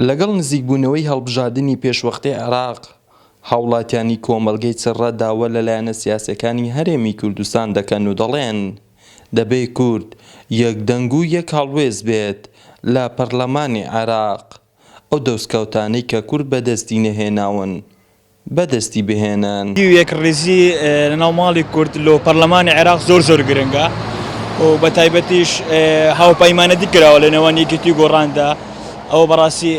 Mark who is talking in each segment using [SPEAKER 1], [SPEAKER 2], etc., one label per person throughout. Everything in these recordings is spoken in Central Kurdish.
[SPEAKER 1] لەگەڵ نزیکبوونەوەی هەڵبژاردنی پێشوەختەی عێراق، هاوڵاتیانی کۆمەڵگەی چڕە داوا لە لایەنە سیاسیەکانی هەرێمی کوردستان دەکەن و دەڵێن، دەبێ کورد یەک دەنگ و یەک هەڵوێست بێت لە پەرلەمانی عێراق. ئەو دەستکەوتانەی کە کورد بەدەستی نەهێناون بەدەستی بهێنن. ی یەکڕیزی
[SPEAKER 2] لە ناو ماڵی کورد لۆ پەڕلەمانی عێراق زۆر زۆر گرنگە و بە تایبەتیش هاوپەیمانەتی کراوە لە نێوان یەکێتی و گۆڕاندا ئەوە بە ڕاستی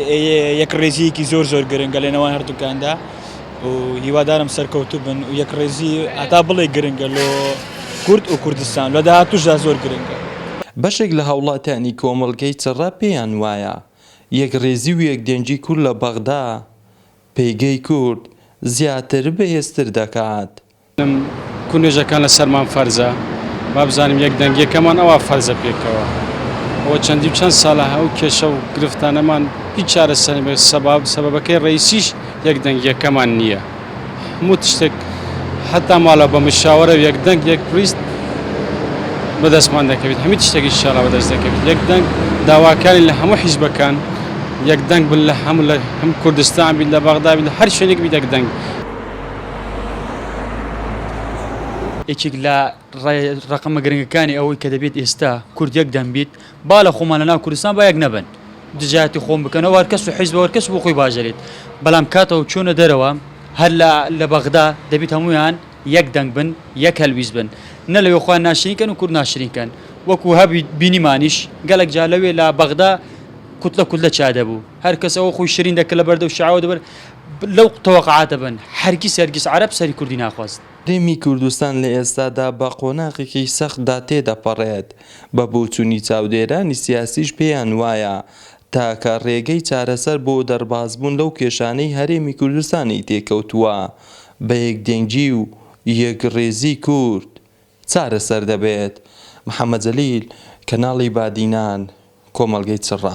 [SPEAKER 2] یەکڕیزیەکی زۆر زۆر گرنگە لە نێوان هەردووکاندا و هیوادارم سەرکەوتوو بن و یەکڕیزی هەتا بڵێ گرنگە لۆ کورد و کوردستان لە داهاتووشدا زۆر گرنگە. بەشێک لە
[SPEAKER 1] هاوڵاتیانی کۆمەڵگەی چڕە پێیان وایە یەکڕیزی و یەکدەنگی کورد لە بەغدا پێگەی کورد زیاتر و بەهێزتر دەکات. بەڵێن کورد
[SPEAKER 3] نوێژەکان لەسەرمان فەرزە با بزانین یەکدەنگیەکەمان ئەوا فەرزە پێکەوە ئەوە چەندی و چەند سالە ئەو کێشە و گرفتانەمان هیچ چارەسەر نەبێت سەبابەکەی ڕئیسیش یەکدەنگیەکەمان نیە. هەموو تشتێک حەتا ماڵە بە مشاوەرە یەک دەنگ یەک پریست بەدەستمان دەکەوێت هەمی تشتێکی شاڵا بەدەست دەکەوێت یەک دەنگ داواکاری لە هەموو حیزبەکان یەک دەنگ بن لە هەموو لە هەم کوردستان بیت لە بەغدابی لە هەر شوێنێک بی دەک دەنگ
[SPEAKER 4] یەکێک لە ڕقمە گرنگەکانی ئەوەی کە دەبێت ئێستا کورد یەک دەنگ بیت با لە خۆمان لە ناو کوردستان با یەک نەبن دژایەتی خۆم بکەن ئەوە هەر کەس و حیزبە و هەر کەس بۆ خۆی باش دەلێت بەلام کاتەو چۆنە دەرەوە هەر لە لە بەغدا دەبیت هەموویان یەک دەنگ بن یەک هەلویست بن نە لەوێ خۆیان ناشرین کەن و کورد ناشرین کەن وەکو هەبویت بینیمانیش گەلەک جار لەوێ لە بەغدا کوتلە کوتلە چا دەبوو هەر کەس ئەوە خۆی شرین دەکرد لە بەردەو شیعەوە دەبرد لەو تەوەقعاتە بن هەرگیز هەرگیز عەرەب سەری کوردی ناخواست. هەرێمی کوردستان
[SPEAKER 1] لە ئێستادا بە قۆناغێکی سەختدا تێدەپەڕێت بە بۆچونی چاودێرانی سیاسیش پێیان وایە تاکە رێگەی چارەسەر بۆ دەربازبوون لەو کێشانەی هەرێمی کوردستانی تێکەوتووە بە یەکدەنگی و یەکڕیزی کورد چارەسەر دەبێت محەمەد جەلیل کەناڵی بادینان کۆمەڵگەی چڕە.